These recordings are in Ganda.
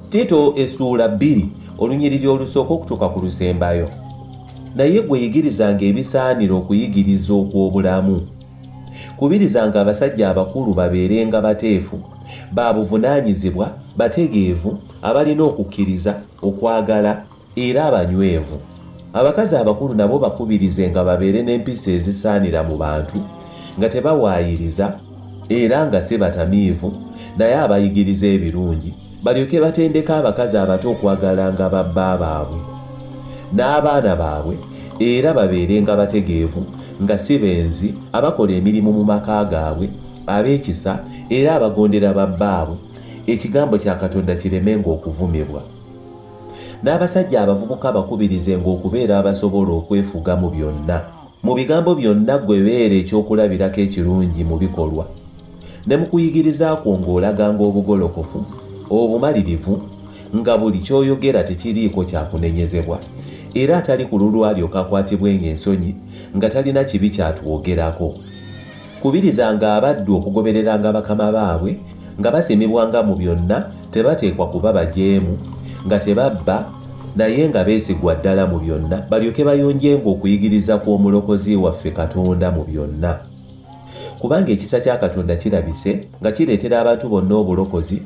tito essuula bbiri olunyiriri olusooka okutuuka ku lusembayo naye gwe yigirizanga ebisaanira okuyigiriza okw'obulamu kubirizanga abasajja abakulu babeerenga bateefu ba buvunaanyizibwa bategeevu abalina okukkiriza okwagala Era abanywevu. Abakazi abakulu nabo bakubirizenga babeere n'empisa ezisaanira mu bantu, nga tebawaayiriza, era nga si batamiivu, naye abayigiriza ebirungi, balyoke batendeke abakazi abato okwagalanga babba baabwe, n'abaana baabwe, era babeerenga bategeevu, nga si benzi, abakola emirimu mu maka gaabwe, ab'ekisa, era abagondera babbaabwe, ekigambo kya Katonda kiremenga okuvumibwa. N'abasajja abavubuka bakubirizenga okubeera abasobola okwefuga mu byonna. Mu bigambo byonna ggwe beera ekyokulabirako ekirungi mu bikolwa. Ne mu kuyigiriza kwo ng'olaganga obugolokofu, obumalirivu, nga buli ky'oyogera tekiriiko kya kunenyezebwa, era atali kululwo alyoke akwatibwenga ensonyi nga talina kibi ky'atwogerako. Kubirizanga abaddu okugobereranga bakama baabwe, nga basimibwanga mu byonna, tebateekwa kuba bajeemu, nga tebabba, naye nga beesigwa ddala mu byonna, balyoke bayonjenga okuyigiriza kw'Omulokozi waffe Katonda mu byonna. Kubanga ekisa kya Katonda kirabise, nga kireetera abantu bonna obulokozi,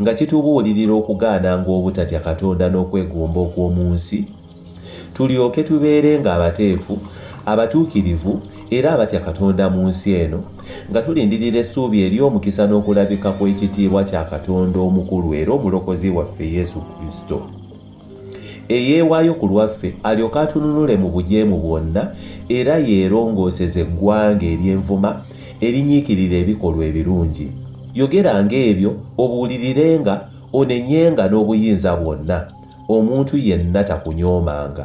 nga kitubuulirira okugaananga obutatya Katonda n'okwegomba okw'omu nsi, tulyoke tubeerenga abateefu, abatuukirivu, era abatya Katonda mu nsi eno, nga tulindirira essuubi ery'omukisa n'okulabika kw'ekitiibwa kya Katonda omukulu era Omulokozi waffe Yesu Kristo. eyeewaayo ku lwaffe alyoke atununule mu bujeemu bwonna era yeerongooseze eggwanga ery'envuma erinyiikirira ebikolwa ebirungi. Yogeranga ebyo, obuulirirenga, onenyenga n'obuyinza bwonna, omuntu yenna takunyoomanga.